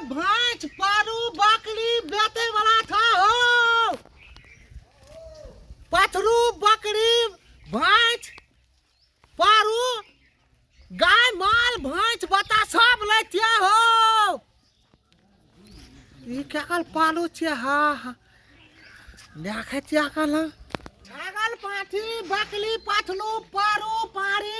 भैंस पारू बकरी बेचे वाला था हो पथरू बकरी भैंस पारू गाय माल भैंस बता सब लेते हो ये क्या कल पालू छे हा हा देखे क्या कल छागल पाठी बकली पथलू पारू पारी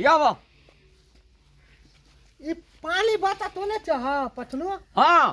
यावा ई पानी बचा तो ने चाह पटनो हाँ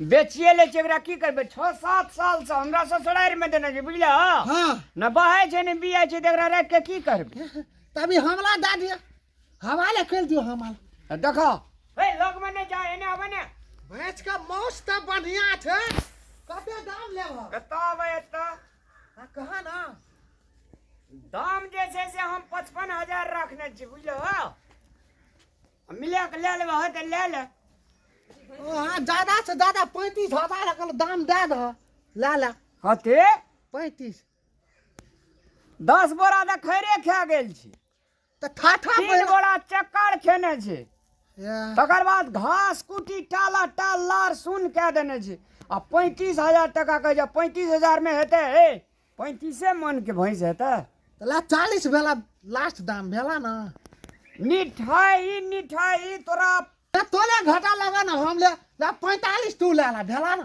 बेचिए ले छै एकरा की करबे छः सात साल से हमरा ससुरारि में देने छै बुझल हाँ न बहे छै न बिया छै त एकरा राख के की करबे तभी हमला दे दिया हमाले खेल दियो हमाल देखो ए लोग में नहीं जाए ने आवे ने भैंस का मौस त बढ़िया छे कते दाम लेब कता आवे एता आ कहा ना दाम जे छे से हम 55000 रखने छी बुझलो मिला के ले लेबे हो त ले ले ओ हां ज्यादा से ज्यादा 35000 रखल दाम दे द ला ला हते 35 10 बोरा त खैरे खा गेल छी तऽ ठाठा तीन पहिने गोरा चक्कर खेने छै एह, तकर बाद घास कुटी टाला टाल लार सुन कए देने छै आ पैंतीस हजार टाका कहै छै पैंतीस हजार मे हेतै हे पैंतीसे मन के भैंस हेतै तऽ ला चालीस भेला लास्ट दाम भेला ने मिठाई ई मिठाई तोरा तऽ तोले घाटा लगा ने हम ले ला पैंतालिस तू ले ला भेला ने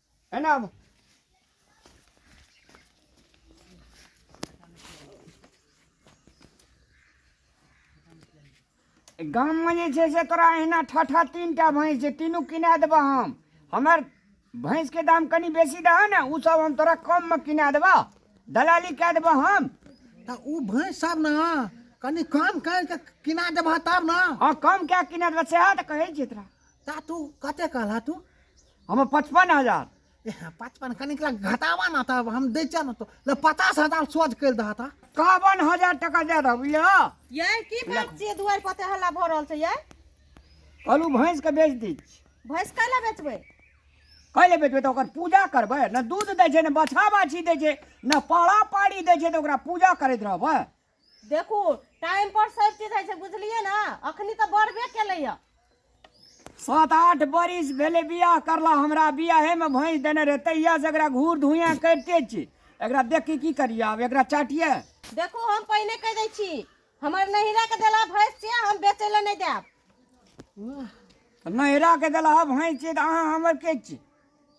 एना आबू गाममे जे छै से तोरा अहिना ठठा तीन टा भैंस छै तीनू किना देबह हम हमर भैंसके दाम कनि बेसी दहऽ ने ओ सब हम तोरा कममे किना देबह दलाली कए देबह हम तऽ ओ भैंस सब ने कनि कम करि कऽ किना देबह तब ने हँ कम कए किना देबह सएह तऽ कहै छियै तोरा ता तू कते कहला तू हमे पचपन हजार एह, पचपन कनिक लग घटाबा ना तब हम दै छियै ना तो ले पचास हजार सोझ करि दह ता कहबन हजार टका दे दह बुझलिह यै की बात छियै दुआरि पर ते हल्ला भऽ रहल छै यै कहलू भैंसके बेच दै छी भैंस काहे लए बेचबै कहि ले बेचबै तऽ ओकर पूजा करबै ने दूध दै छै ने बछा बाछी दै छै ने पाड़ा पाड़ी दै छै तऽ ओकरा पूजा करैत रहबै देखू टाइम पर सब चीज होइ छै बुझलियै ने अखनी तऽ बढ़बे केलैया सात आठ बरिस भेलै बियाह करला हमरा बियाहेमे भैंस देने रहै तहिया से एकरा घूर धुइया करिते छी एकरा देख के की करियै आब एकरा चाटियै देखू हम पहिने कहि दै छी हमर नहिरा के देला भैंस छियै हम बेचै लए नहि देब नहिरा के देला भैंस छी तऽ अहाँ हमर के छी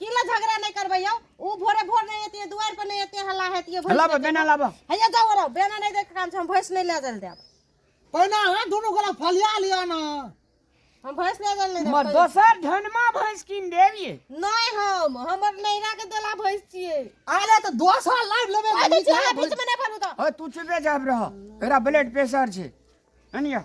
की ला झगड़ा नहीं करबे यौ ऊ भोरे भोर नहीं एतिए दुआर पर नहीं एतिए हल्ला हेतिए भोर लाबा बेना लाबा हैया जाओ रहो बेना नहीं देख काम छै हम भैंस नहीं ले जल देब पहिना है दोनों गोला फलिया लिया ना हम भैंस ले जल नहीं मर देब दोसर धनमा भैंस किन देबिए नहीं हम हमर नैरा के देला भैंस छिए आले तो दस साल लाइव लेबे ओए बीच में बीच में नहीं भरू तो ओए तू चुपे जाब रह एरा ब्लड प्रेशर छै अनिया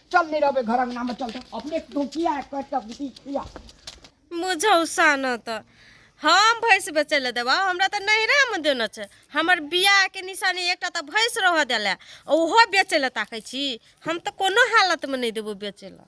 चल नहीं रहबे घर अंगना में चल तो अपने तू किया है कट तक बीती किया मुझौसा न त हम भैंस बेचै लए देबा हमरा तऽ नैहरामे देने छै हमर बियाहके निशानी एकटा तऽ भैंस रहऽ देले ओहो बेचै लए ताकै छी हम तऽ कोनो हालतमे नहि देबो बेचै लए